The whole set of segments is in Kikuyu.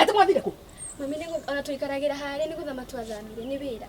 Atĩ mwathire kũ? Mami nĩ gũ- ona tũikaragira harĩa nĩ gũthama twathamire nĩ wĩra.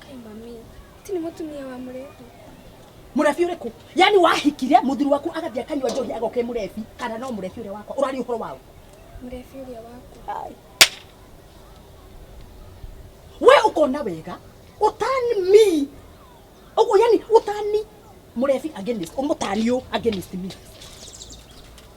Kai mami, ti nĩ mũtumia wa mũrebi. murebi uri ku yani wahikire muthuri waku agathia kanywa njohi agoke murebi kana no murebi uri wakwa urari uhoro wao Mũrebi ũrĩa waku. we ukona wega utani mi uguo yani utani murebi against umutani u against me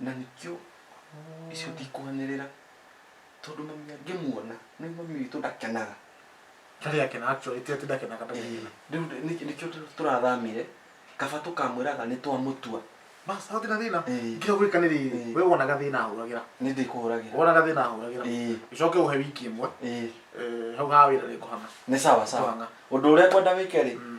na nĩkĩo icio ndikwanĩrĩra tondũ mami angĩmuona nĩ mami witũ ndakenaga Tarĩ yake na actually ti ati ndakenaga ndamwĩra. rĩu nĩ- nĩ- nĩkĩo tũ- tũrathamire kaba tũkamwĩraga nĩ twamũtua Bas, hau tina thina. Eh. Nginya gwika ni riri. Eh. We wonaga thina ahuragira. nĩ ndĩkũhũragĩra Wonaga thina ahuragira. Eh. Icoke uhe wiki imwe. Ĩĩ, Eh, hau ha wira ni kuhanga. nĩ sawa sawa Twanga. ũndũ ũrĩa ngwenda wĩke rĩ Mm.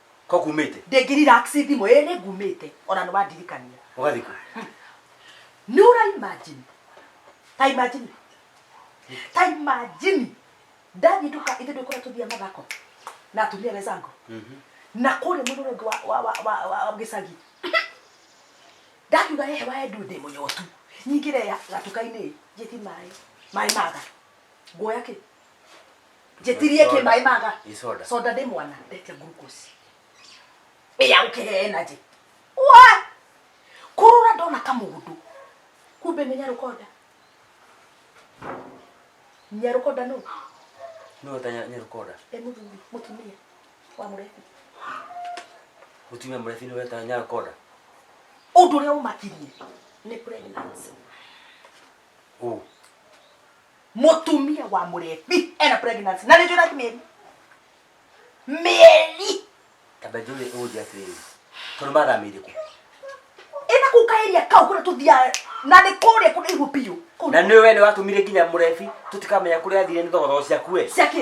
ko kumite ndĩngĩriraxi thimũ ĩ nĩ ngumĩte ona nĩ wandirikania ũgathiĩ kũ nĩ ũra imagine ta imagine ta imagine ndathiĩ nduka ithe ndũkora tũthia mathako na atumia wezango na kũrĩa mũrũrũngũ wa- wa- wa- wa- wa- wa gĩcagi ndakiuga hehe waendu ndĩ mũnyotu nyingĩre ya- gatuka-inĩ njĩti maĩ maĩ maga nguoya kĩ njĩtirie kĩ maĩ maga Ĩ soda. soda ndĩ mwana ndetia glucose ĩya gũkĩhe energy wa kũrũra ndona kamũndũ kumbe nĩ nyarũkonda nyarũkonda nũ No ta nya- nyarukoda. e mũthuri mũtumia wa mũrebi Mutumia mrefu ni weta nyarukoda. ũndũ ũrĩa ũmakirie nĩ pregnancy Ũ. mũtumia wa mũrebi ena pregnancy na nĩnjũra ti mĩeri mĩeri kamba njũre ũnjĩ atĩrĩrĩ tondũ mathamĩire kũ ĩna kũu kaĩria kau kũrĩa tũthiaga na nĩ kũrĩa kũrĩa ihu biũ Kũu na nĩ we nĩ watũmire nginya mũrebi tũtikamenya kũrĩa athire nĩ thogothogo ciaku we cia kĩ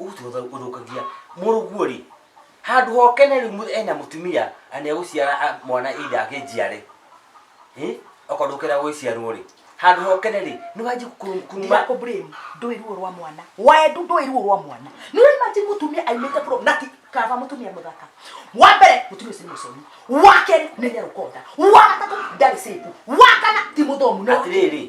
ũthũkagia mũrũguo rĩ handå hokene rä u ena må tumia na nä egå ciara mwana itha akä njiare okorwo ndå kenda gå ciarwo rä handå hokene rä nä wanjä kuma Ndako blame ndũĩ ruo rwa mwana wendu ndũĩ ruo rwa mwana nĩ ũrĩmaji mũtumia aimĩte bro na ti kaba mũtumia mũthaka wa mbere mũtumia ũcio nĩ mũconi wa kerĩ nĩ nyarũkonda wa gatatũ ndarĩ sĩku wa kana ti mũthomu no atirä rä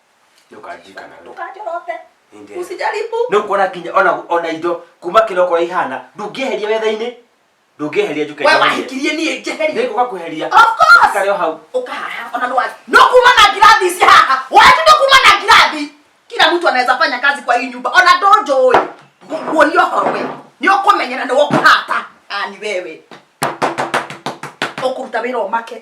ndukajikana no ndukajorote Ninde. usijaribu no kuona nginya ona ona indo kuma kilo kwa ihana ndungieheria wetha-inĩ ndungieheria njuke we wahikirie niĩ njeherie nĩngũka kweheria Of course. karĩ o hau ukahaha ona no wathi no kuma na ngirathi ici haha watu no kuma na ngirathi kila mtu anaweza fanya kazi kwa hii nyumba ona ndonjoi nguoria ũhoro we nĩ ũkũmenyera nĩ ũkũhata ani wewe ũkũruta wĩra ũmake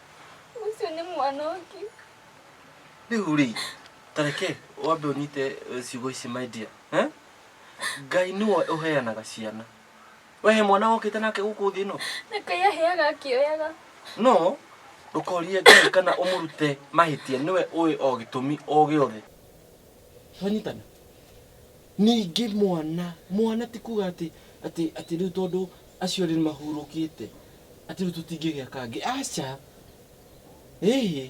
Ũcio nĩ mwana ũngĩ. Rĩu rĩ, tareke wambe ũnyite eh, ciugo ici my dear. Eh? Ngai nĩwe ũheanaga ciana. We he mwana wokĩte nake gũkũ thĩ ĩno? Na Ngai aheaga akĩoyaga. No ndũkorie Ngai kana ũmũrute mahĩtia nĩwe ũĩ o gĩtũmi o gĩothe. Twanyitana? Ningĩ mwana, mwana ti kuuga atĩ, atĩ, atĩ rĩu tondũ acio erĩ nĩ mahurũkĩte, atĩ rĩu tũtingĩgĩa kangĩ. Aca! Ĩhĩ!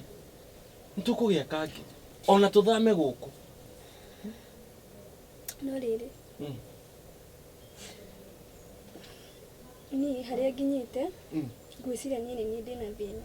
Nĩ tũkũgĩa kangĩ. O na tũthame gũkũ. No rĩrĩ, Mm. niĩ harĩa nginyĩte, Mm. ngwĩciria niĩ nĩ niĩ ndĩna thĩna.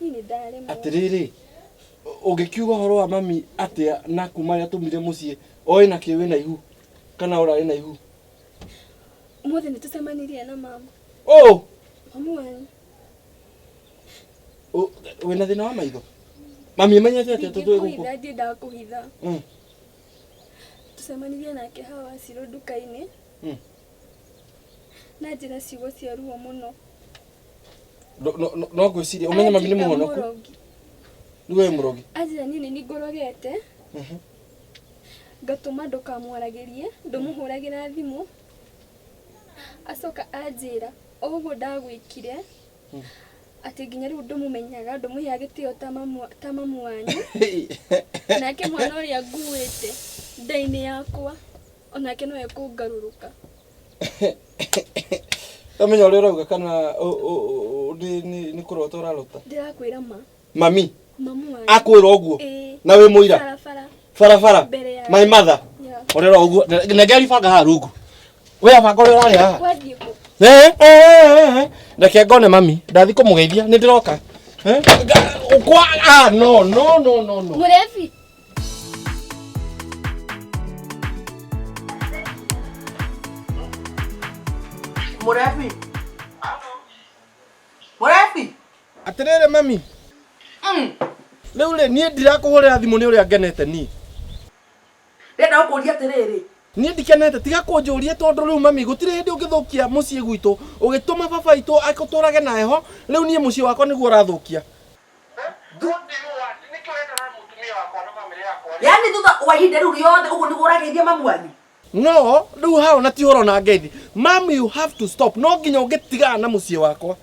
Niĩ nĩ ndaremwo. atĩrĩrĩ ũngĩkiuga ũhoro wa mami atĩa na kuma rĩrĩa tumire mũciĩ oĩ na kĩ wĩna ihu kana ũrarĩ na ihu Ũmũthĩ nĩ tũcemanirie na mama. oh Mami wanyu. ũ- wĩna thĩna wa maitho mami ĩmenyete atĩa tũtũ ĩgũkũ Ingĩkũhitha ndiendaga kũhitha. Mm. Tũcemanirie nake hawa Ciro nduka-inĩ. Mm. na njĩra ciugo cia ruo mũno No- no- no- no ngwĩciria ũmenye mami nĩ Anjĩra mũhonoku mũrogi. nĩ wee mũrogi anjĩra niĩ nĩ niĩ ngorogete Mhm. ngatũma ndũkamwaragĩrie ndũmũhũragĩra thimũ acoka anjĩra o ũguo ndagwĩkire Mm. atĩ nginya rĩu ndũmũmenyaga ndũmũhea gĩtĩo ta mamu- ta mamu wanyu nake mwana ũrĩa nguĩte nda-inĩ yakwa O nake no ekũngarũrũka. Ndamenya ũrĩa ũrauga kana ũ- ũ- ũ- nĩ- nĩ nĩ kũrota ũrarota Ndĩrakwĩra ma. mami Mamu wanyu. akwĩra ũguo Ĩĩ. na wĩ mũira Barabara. barabara Mbere ya- my mother Ya. ũrera ũguo nengeri banga haha rungu we abanga ũrĩa ũrarĩ haha Wathiĩ kũ? Eh, eh, eh, eh. reke ngone mami ndathi kũmũgeithia nĩ ndĩroka Eh, nga- kwa ah, no no no no no Mũrebi. Mũrebi. Mũrebi. Atĩrĩrĩ mami. Mm. Rĩu rĩ niĩ ndirakũhũrĩra thimũ nĩ ũrĩa ngenete niĩ. Ndĩrenda gũkũria atĩrĩrĩ. Niĩ ndikenete tiga kũnjũria tondũ rĩu mami gũtirĩ hĩndĩ ũngĩthũkia mũciĩ gwitũ ũgĩtũma baba witũ akũtũrage na heho rĩu niĩ mũciĩ wakwa nĩguo ũrathũkia. yani thutha wa ihinda rĩu rĩothe ũguo nĩguo ũrageithia mamu wanyu no rĩu hao na ti horo na ngeithi mam you have to stop no nginya ũngĩtigana na mũciĩ wakwa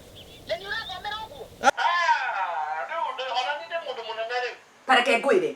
tareke ngwĩre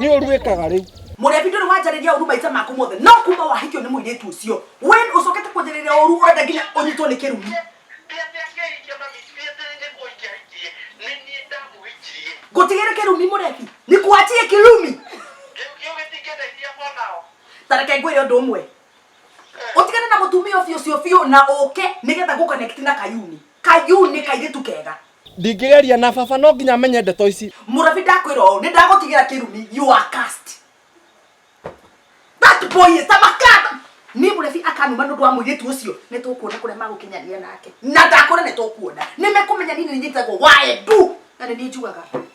nä å ruäkaga rä u Mũrĩabi ndũrĩ wanjarĩria ũru maitha maku mothe no kuma wahikio nĩ mũirĩtu ũcio wen ũcokete kwanjarĩria ũru ũrenda nginya ũnyitwo nĩ kĩrumi ngũtigĩre kĩrumi mũrebi nikuachie kirumi tareke ngwĩre ũndũ ũmwe ũtigane na mũtumia ũcio ũcio biũ na ũke nĩgetha ngũkonekti na kayuni kayuni kairĩtu kega Ndingĩgeria na baba no nginya amenye ndeto ici. Mũrabi ndakwĩra ũũ, nĩ ndagũtigĩra kĩrumi, you are cursed. That boy is a makata. Niĩ mũrebi akanuma nĩ ũndũ wa mũirĩtu ũcio, nĩ tũkuona kũrĩa magũkinyanĩria nake. Na ndakũrĩa nĩ tũkuona. Nĩ mekũmenya niĩ nĩ niĩ njĩtagwo Waembu, na nĩ niĩ njugaga.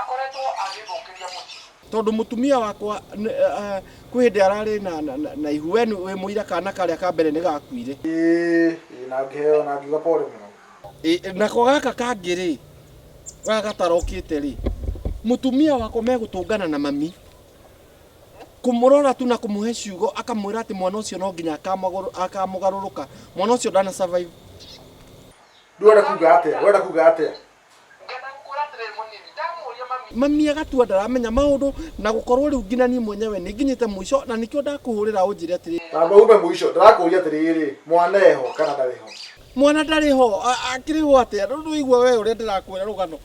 akoretwo agĩthũkĩria mũciĩ. Tondũ mũtumia wakwa kwĩ hĩndĩ ararĩ na ihu, we wĩ mũira kana karĩa ka mbere nĩ gakuire. Ĩĩ, na ngĩheo na ngiuga pole mũno. Ĩĩ, nako gaka kangĩ-rĩ, gaka gatarokĩte-rĩ, mũtumia wakwa megũtũngana na mami, kũmũrora tu na kũmũhe ciugo akamwĩra atĩ mwana ũcio no nginya akamũgarũrũka, mwana ũcio ndana survive. Rĩu ũrenda kuga atĩa, ũrenda kuga atĩa? Mami agatua ndaramenya maũndũ na gũkorwo rĩu nginya niĩ mwenyewe nĩ nginyĩte mũico na nĩkĩo ndakũhũrĩra ũnjĩre atĩrĩrĩ. Na andũ aume mũico ndĩrakũria atĩrĩrĩ, mwana eho kana ndarĩ ho? Mwana ndarĩ ho, akĩrĩ ho atĩa? Ndũraigua we ũrĩa ndĩrakwĩra rũgano?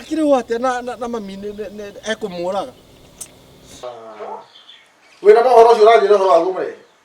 Akĩrĩ ho atĩa na mami ekũmũraga? Wĩna mohoro ũcio ũranjĩra ũhoro waguo mũrĩ?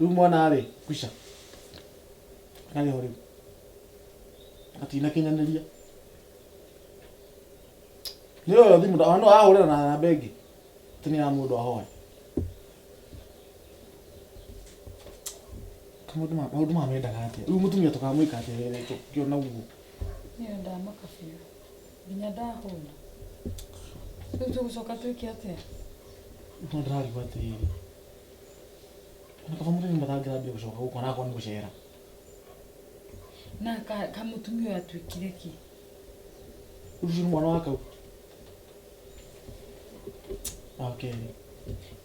Rĩu mwana rĩ, kwisha. Ararĩ ho rĩu. Atinakinyanĩria. Nĩ oyo thimũ nda- no ahũrĩra na namba ĩngĩ. Atĩ nĩ ya mũndũ ahoya. Maũndũ ma- maũndũ maya mendaga atĩa? Rĩu mũtumia tũkamwĩka atĩa rĩrĩa tũngĩona ũguo? Niĩ ũyũ ndamaka biũ. Nginya ndahũna. Rĩu tũgũcoka twĩke atĩa? No ndĩrarigwo atĩrĩrĩ. Ona kaba mũthenya mbathangĩra mbia gũcoka gũkũ arakorwo nĩ gũcera na ka- kamutumia ũyũ atuĩkire kĩ ũyũ ũcio nĩ mwana wa kau wa kerĩ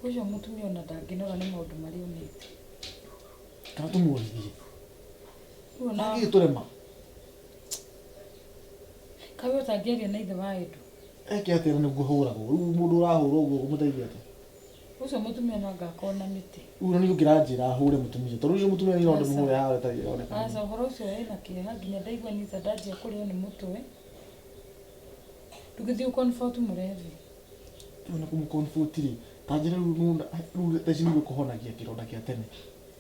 ũcio mutumia ona ndangĩnora nĩ maũndũ marĩa onete kana tũmũrithie Rĩu ona- agĩ tũrema kaĩ ũtangĩaria na ithe wa endu eke atĩa na nĩguo hũragwo rĩu mũndũ ũrahũrwo ũguo ũgũmũteithia atĩa Ucio mutumia no anga akorwo na mĩtĩ. Rĩu ona niĩ ũngĩranjĩra hũre mũtumia tondũ ũcio mũtumia niĩ no ndĩmũhũre haha ta ĩroneka. Aca ũhoro ũcio wĩ na kĩeha nginya ndaigua niĩ ta ndanjia kũrĩo nĩ mũtwe. Ndũgĩthiĩ ũ comfort mũrebi. Ona kũmũ comfort rĩ, ta njĩra rĩu nĩ wona rĩu thaa ici nĩ ũrĩkũhonagia kĩronda gĩa tene.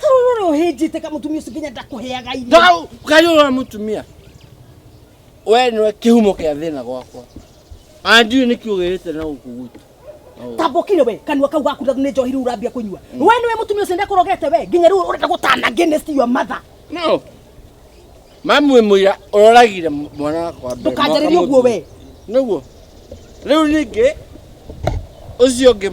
Karurore uhinjite ka mutumia ucio nginya ndakuheaga irio. Ndau kariũra mũtumia we nĩwe kĩhumo kĩa thĩna gwakwa na ndiũĩ nĩkĩ ũgĩrĩte na gũkũ gwitũ Na ũũ. Tambokire we kanua kau gaku na nĩ njohi rĩu urambia kũnyua. We nĩwe mutumia ucio ndakurogete we nginya rĩu urenda gũtana against your mother. No, Mami wĩ mũira ũroragire mwana wakwa mbere. Ndũkanjarĩrie ũguo we. Nĩguo. Rĩu ningĩ ũcio ũngĩ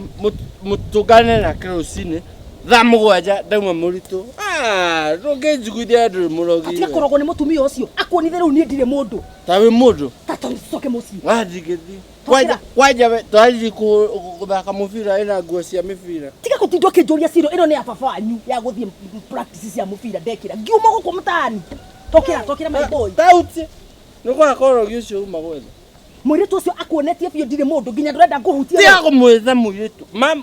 mũtũngane nake rũcinĩ thaa mũgwanja ndauma mũritũ ah, ndũngĩnjiguithia ndũrĩ mũrogi tiga kũrogwo nĩ mũtumia ũcio akuonithe rĩu niĩ ndirĩ mũndũ ta wĩ mũndũ ta tũcoke mũciĩ ah, ndingĩthiĩ Kwanja- kwanja we twathiĩ kũ- kũ- gũthaka mũbira ĩna nguo cia mĩbira tiga gũtindwo kĩnjũria ciro ĩno nĩ ya baba wanyu ya gũthiĩ practice cia mũbira ndekĩra ngiuma gũkũ mũtaani tokĩra tokĩra my boy tauti nĩ gwakorwo ũgĩ ũcio uma gwetha mũirĩtu ũcio akuonetie biũ ndirĩ mũndũ nginya ndũrenda ngũhutia tiga kũmwĩtha mũirĩtu mam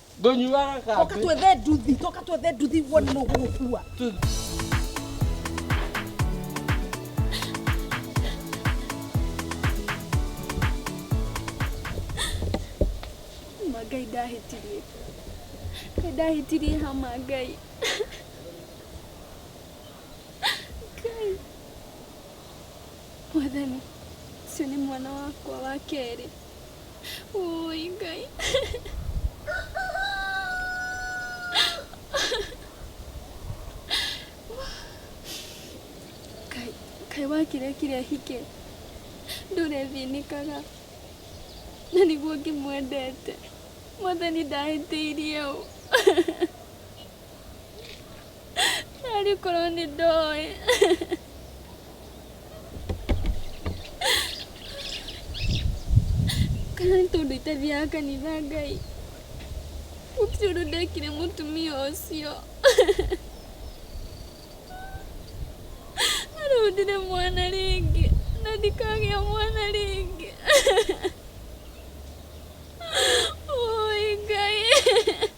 Ndũnyuaga Toka kambĩ. twethe nduthi, toka twethe nduthi wone nũ ũgũgũkua. Ma Ngai ndahĩtirie. Nĩ ndahĩtirie hama Ngai. Mwathani, ũcio nĩ mwana wakwa wa kerĩ. Ũũi Ngai. Ngai, Ngai wakire kire hike. Ndũrethĩnĩkaga. Na nĩguo ngĩmwendete. Mwathani ndahĩtĩirie ũ. Daddy closed the door. kana tondå itathiaga kanitha ngai gũtirĩ ũndũ ndekire mũtumia ũcio arũndire mwana rĩngĩ na ndikagĩa mwana rĩngĩ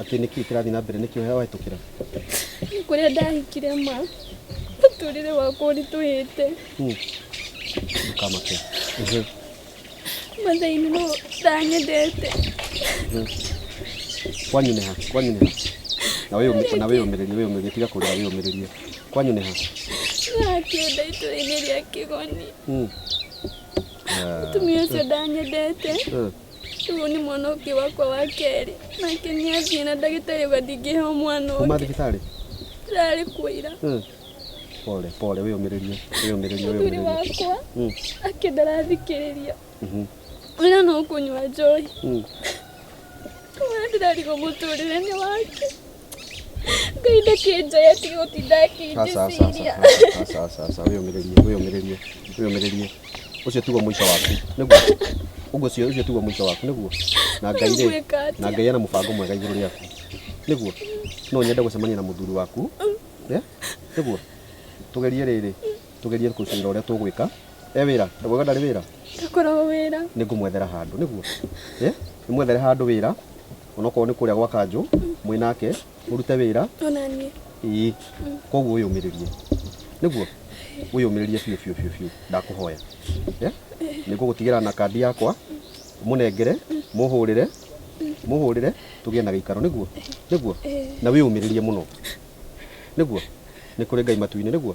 Atĩ nĩ kĩĩ kĩrathiĩ na mbere nĩkĩ ũheo wahĩtũkĩra? Nĩ kũrĩa ndahikire ma mũtũrĩre wakwa ũritũhĩte Hmm. Ndũkamake. Mhm. mathainĩ no ndanyendete Kwanyu nĩ ha? Kwanyu nĩ ha? Na wĩyũmĩ- na wĩyũmĩrĩrie wĩyũmĩrĩrie tiga kũrĩra wĩyũmĩrĩrie. Kwanyu nĩ ha? ndakĩenda itũrainĩ rĩa kĩgoni Hmm. Ah. mũtumia ũcio ndanyendete Eh. Ũyũ nĩ mwana ũngĩ wakwa wa kerĩ nake nĩ athiĩ na ndagĩtarĩ uga ndingĩheo mwana kuma ũngĩ thibitarĩ rarĩ kũira Mm. pole pole wĩyũmĩrĩrie wĩyũmĩrĩrie mũthuri wĩyũmĩrĩrie wakwa Mm. ake ndarathikĩrĩria Mhm. wĩra no kũnyua njohi Mm. wĩra ndĩrarigwo mũtũrĩre-inĩ wake ngai ndakĩnjoya tiga ũtinda Aca, aca, aca, akĩnjiciria aca, aca, aca, aca, wĩyũmĩrĩrie, wĩyũmĩrĩrie, wĩyũmĩrĩrie. Ũcio tiguo mũico waku, nĩguo? Ũguo ũcio ũcio tiguo mũico waku, nĩguo? Na Ngai rĩ, Ngwĩka atĩa? na Ngai ena mũbango mwega igũrũ rĩaku, nĩguo? No nyende gũcemania na mũthuri waku, eh? nĩguo? Tũgerie rĩrĩ, tugerie kucira uria tugwika e wira ndagwaga ndari wira ndakoragwo wira ni ngumwethera handu niguo eh nimwethere handu wira onokorwo ni kuria gwa kanju mwi nake murute wira ona niĩ ii koguo wiyumiririe niguo wiyumiririe biu biu biu biu ndakuhoya eh nigugutigĩra na kandi yakwa munengere muhurire muhurire tugie na gĩikaro niguo niguo na wiyumiririe muno niguo ni kuri ngai matu-inĩ niguo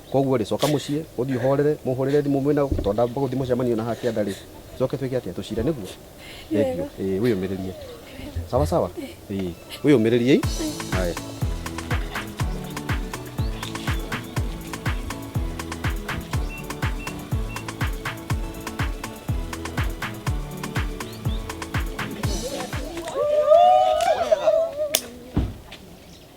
koguo rĩ coka muciĩ uthii uhorere muhurire thimu mwina to ndamba guthii mucemanio na hakianda ri coke twike atia tucire niguo niguo eh wiyumiririe sawa sawa eh wiyumiririe haya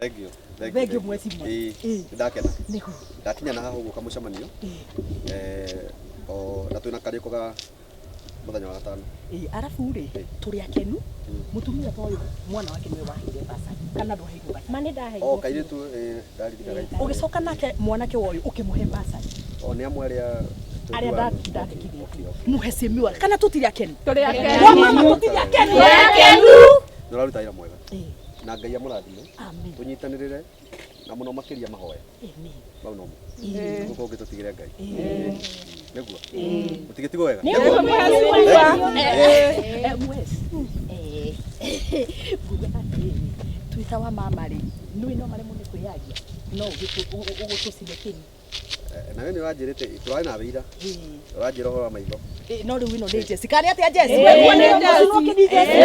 Thank you. Thank Thank you, mheshimiwa. Ĩĩ, Ĩĩ. ndakena Nĩguo. ndakinya na haha ũguo kamũcemanio Ĩĩ. eh, o na twĩna karĩko ga mũthenya wa gatano Ĩĩ, arabu rĩ tũrĩ akenu mũtumia ta ũyũ mwana wake nĩwe waheire basa kana ndwaheirwo basa ma nĩ ndaheirwo o kairĩtu eh, ndaririkana Ĩĩ. ũgĩcoka nake mwanake wa ũyũ ũkĩmũhe basari o nĩ amwe arĩa arĩa nda- ndandĩkithĩtie mũhe semi wake kana tũtirĩ akenu Tũrĩ akenu. Wa mama tũtirĩ akenu Tũrĩ akenu. nĩ ũraruta wĩra mwega Ĩĩ. na ngai amũrathime Amen. tũnyitanĩrĩre na mũno makĩria mahoya Amen. mau nomo Ĩĩ. gũkũ ũngĩ tũtigĩre ngai Ĩĩ. nĩguo mũtigĩtigwo wega nguga atĩrĩ twĩta wa mama rĩ nũĩ no maremwo nĩ kwĩyaria no ũgũtũcinĩkĩri na we nĩ wanjĩrĩte tũrarĩ na wĩira ũranjĩra ũhoro wa maitho no rĩu ĩno nĩ njeci karĩ atĩa njeci Ũguo nĩ njeci.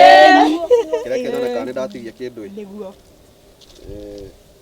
kĩrĩa kĩonanĩkaga nĩ ndatigia kĩndũ ĩ nĩguo Eh,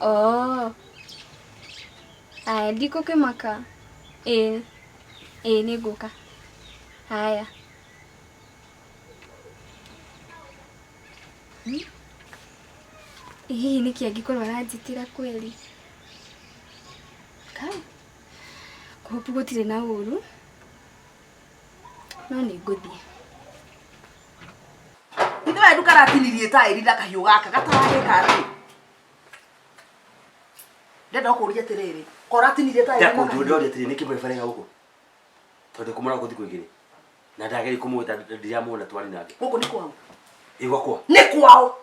Oh. Aya, ndikũkĩmaka. Ĩĩ. Ĩĩ nĩ ngũka. Haya. Hmm? Ĩ, Hihi nĩkĩ angĩkorwo aranjĩtĩra kweli? Kai. Kũhopu gũtirĩ na ũru. No nĩ ngũthiĩ. ithe wendu karatinirie taĩri na kahiũ gaka gataragĩka atĩ ndenda kũria atĩrĩrĩ koratinirie taĩri na kahiũ ndũrĩa ũrĩa atĩrĩ nĩkĩ mũrebarega gũkũ tondũ kũmũra gũthi kwĩgĩrĩ na ndageri kũmwĩta ndiramuona twari nake gũkũ nĩ kwao igwakwa nĩ kwao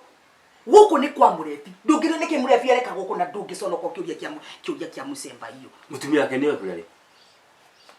gũkũ nĩ kwa mũrebi ndũngĩrĩ nĩkĩ mũrebi areka gũkũ na ndũngĩconoka ũkĩũria kĩa mu- kĩũria kĩa mũcemba iyo mũtumia wake nĩwe kũrĩa rĩ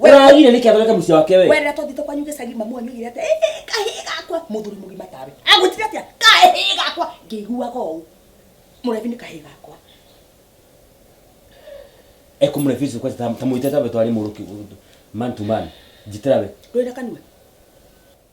Ũragire nĩkĩ athondeke mũciĩ wake we? Werera twathite kwanyu gĩcagi mamu wanyu augire atĩ "Ĩ, ĩ, kahĩĩ gakwa mũthuri mũgima tawe agwĩtire atĩa kahĩĩ gakwa ngĩiguaga ũũ mũrebi nĩ kahĩĩ gakwa Ekumrefuse kwa tamu tamu itata betwali muruki man to man. Jitirabe. ndũrĩ na kanua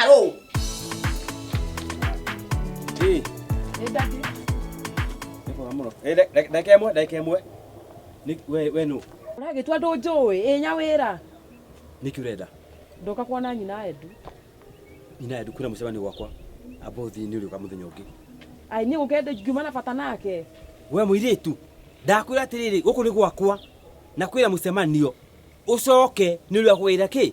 àrò. ee ẹ dájú. ẹ fọwọ́ mọ̀rọ̀ ẹ dẹ́kẹ́ mọ́ dẹ́kẹ́ mọ́ ẹ ní wẹ́ẹ́ nù. rage twa ndũnjũĩ ĩnya wĩra nĩkĩ ũrenda ndoka kuona nyina endu nyina endu kwĩna mũcemanio gwakwa amba ũthiinĩ ũrĩũka mũthenya ũngĩ ai niĩ gũkenda ngiuma na bata nake we mũirĩtu ndakwĩra atĩrĩrĩ gũkũ nĩ gwakwa na kwĩna mũcemanio ũcoke nĩ ũrĩa kwĩra kĩ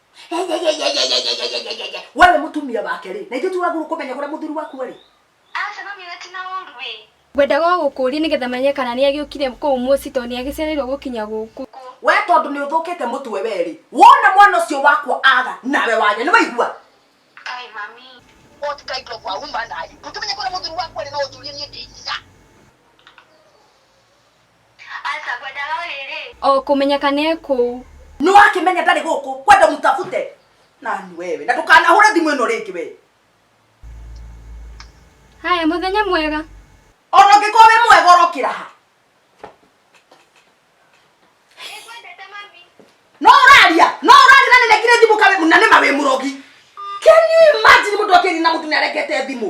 we nĩ mũtumia wake rĩ na ithuĩ tũragũrũ kũmenya kũrĩa mũthuri waku arĩ Aca mami ũrĩa ti na ũru ĩ. Ngwendaga o gũkũũria nĩgetha menye kana nĩ agĩũkire kũu mũciĩ tondũ nĩ agĩcereirwo gũkinya gũkũ. we tondũ nĩ ũthũkĩte mũtwe we rĩ wona mwana ũcio wakwa aga nawe wanya nĩ waigua Kai mami. What kind of a woman are you? Ndũkĩmenye kũrĩa mũthuri waku arĩ no ũnjũrie niĩ ndĩ nyina. Aca ngwendaga ũrĩ rĩ. O kũmenyeka nĩ ekũu. Nĩ wakĩmenya ndarĩ gũkũ kwenda mũtabute. Nani wewe na ndũkanahũre thimũ ĩno rĩngĩ we. Haya mũthenya mwega. Ona ũngĩkorwo wĩ mwega ũrokĩra ha? No ũraria, no ũraria na nĩnekire thimũ kawe na nĩma wĩ mũrogi. Can you imagine mũndũ akĩria na mũndũ nĩarekete thimũ?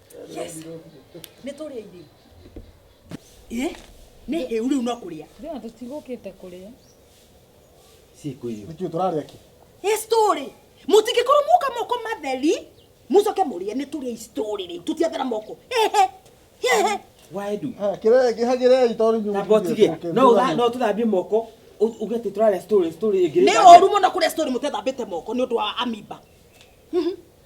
yes nä tå rä a irä ä nä hä u rä u no kå rä a Thina tutigũkĩte te kuria. Siku hiyo. Nĩkĩ tũrarĩa kĩ? Ĩ story. Mũtingĩkorwo muka moko matheri, mucoke mũrĩe nĩ tũrĩa story rĩu. Tũtiathera moko. Hehe. Hehe. Waidu. Ha kĩrĩa kĩhagĩrĩai tondũ inyuĩ. Na botige. No ũtha no tũthambie moko. Uge atĩ tũrarĩa story story ĩngĩ. Nĩ ũru mũno kũrĩa story mũtethambĩte moko nĩ ũndũ wa amiba. Mhm.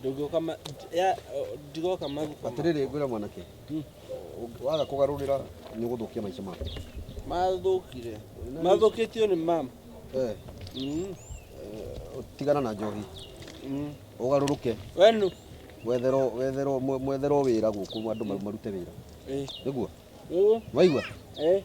ndũngĩoka ma- ya- o- ndigoka maguka atĩrĩrĩ ngwĩra mwanake ũngĩ- waga kũgarũrĩra nĩ ũgũthũkia maica maku mathũkire mathũkĩtio nĩ mam Eh, Mm, tigana na njohi mm. ũgarũrũke wenu wetherwo wetherwo mwe- mwetherwo wĩra gũkũ andũ maru- marute wĩra Eh, nĩguo ũũ, waigua eh,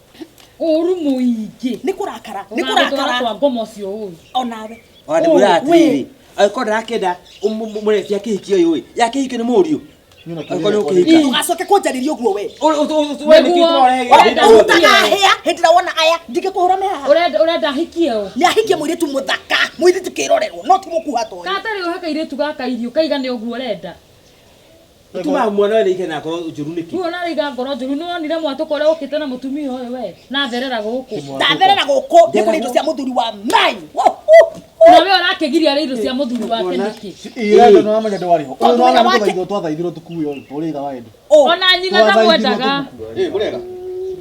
ũru mũingĩ nĩ kũrakara nĩ ũgatwara kũrakara kwa ngoma ũcio ũru onawe Ona ndĩmwĩra Ũũ, atĩrĩ wĩ. angĩkorwo ndarakĩenda mũreti akĩhikia ũyũ ĩ yakĩhikio nĩ mũriũ angĩkorwo nĩ ũkĩhika Ii. ndũgacoke kũnjarĩria ũguo we Nĩguo. ũtanahĩa hĩndĩ ĩrĩa wona aya ndingĩkũhũra me haha Ũrenda- ũrenda ahikie ũ nĩ ahikie mũirĩtu mũthaka mũirĩtu kĩrorerwo no ti mũkuha toyo katarĩ ũhe kairĩtu gaka irio kaigane ũguo ũrenda Ũtumaga mwana wene ike na ngoro njũru nĩkĩ? Rĩu ona araiga ngoro njũru nĩ wonire mwatũka ũrĩa ũkĩte na mũtumia ũyũ we na therera gũkũ ndatherera gũkũ nĩ kũrĩa indo cia mũthuri wa mai na we ũrakĩgiria rĩa indo cia mũthuri wake nĩkĩ Ira ndo no manya ndwari ho. Uyu no na muthaitho twathaithirwo tukuyo uri ira wa endu. ona nyina ndamwendaga Eh, murega.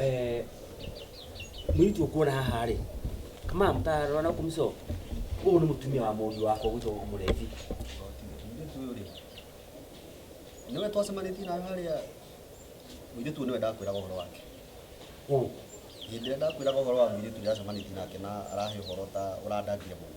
Eh, mũirĩtu ũkuona haha rĩ kama mũtarora na kumso ũyũ nĩ mũtumia wa mũndũ wakwa gwĩtwo mũrethi niwe twacemanĩtie nawe harĩa mũirĩtu ũyũ nĩwe ndakwĩraga ũhoro wake ũ hĩndĩ ĩrĩa ndakwĩraga ũhoro wa mũirĩtu ũrĩa ndacemanĩtie nake na arahe ũhoro ta ũrandangire mũno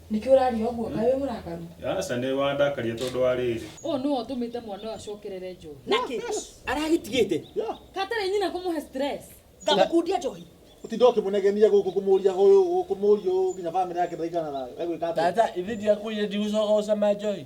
Nĩkĩ ũraria ũguo? Kaĩ wĩ mũrakaru? Aca nĩ wandakaria tondũ wa rĩrĩ. Ũyũ nĩwe ũtũmĩte mwana ũyũ acokerere njohi. Nakĩ? Aragĩtigĩte. Hatarĩ nyina kũmũhe stress. Ngamũkundia njohi. Ũtinda ũkĩmũnegenia gũkũ kũmũria ũyũ kũmũria ũyũ nginya family yake ndaigana thayũ. Egwĩka atĩa? Tata, ithe ndiakwĩrire ndigũcoka gũcama njohi?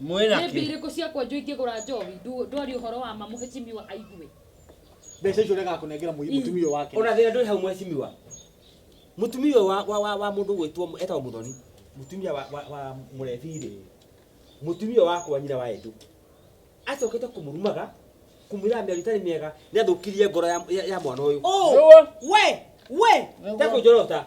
Mwĩna nĩ kĩ? mbirĩ kũ cia kwenjwo ingĩgũra njohi ndu- ndwari ũhoro wa ma mũhĩcimiwa aigue mbeca icio ũrega kũnengera mũi- mũtumia ũyũ wake ona thä ndå hau mwecimiwa må tumia å wa- wa- wa- wa må ndå gwä two etagwo må thoni må tumia wa- wa- wa må rebirä må tumia wakwa nyina wa endå acokä te kå må rumaga kå mwä raga mä ario itarä mä ega nä athå kirie ngoro ya- ya ya mwana å yå Nĩguo. we we Nĩguo. tekå njorota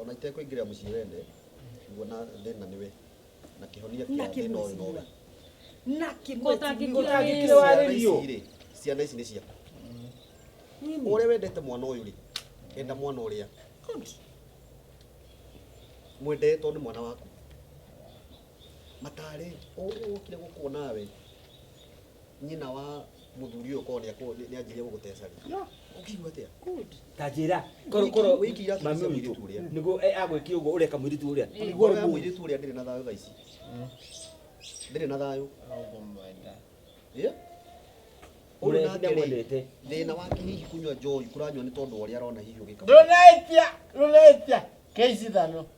ona itekũingĩrĩra mũciĩ wene nguona thĩna nĩwe na kĩhonia Na kĩa thĩna ũyũ nowe kĩmwĩciria. na Kũtangĩkĩra kĩmwĩciria Ciana warĩrio. ici rĩ, ciana ici nĩ ciaku ũrĩa wendete mwana ũyũ rĩ enda mwana ũrĩa mwendee tondũ nĩ mwana waku matarĩ ũyũ wokire gũkuona we nyina wa muthuri uyu ko ni anjirie gugutecaria ukigua atia ta njira koro koro wiki ira mami mami witu witu uria nigo agwiki ugo ureka mwiritu uria niguo ri mwiritu uria ndiri na thayo thaa ici ndiri na thayo Eh? Uri na Murenda atĩrĩ, mwendete. thĩna wake hihi kunyua njohi kũranyua nĩ tondũ wa ũrĩa arona hihi ũgĩka ndunaitia ndunaitia keisi thano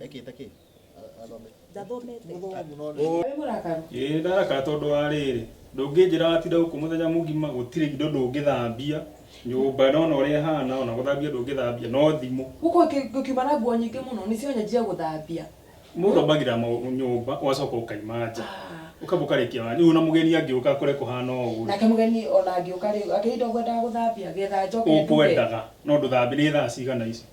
ekĩte kĩ athome ndathomete Wĩ mũrakaru? ĩĩ ndaraka tondũ wa rĩrĩ ndũngĩnjĩra watinda gũkũ mũthenya mũgima gũtirĩ indo ndũngĩthambia nyũmba nona ũrĩa ĩhana ona gũthambia ndũngĩthambia no thimũ Gũkũ ngĩ- ngĩkiuma na nguo nyingĩ mũno nĩcio nyanjia gũthambia. mũndũ ambagĩra mau- nyũmba ũgacoka ũkaima nja Ah. ũkamba ũkarĩkia wanja rĩu ona mũgeni angĩũka akore kũhana ũũ Nake mũgeni ona angĩũka rĩ, akĩrĩ indo ngwendaga gũthambia, getha njoke nduge. ũkwendaga no ndũthambia nĩ thaa cigana ici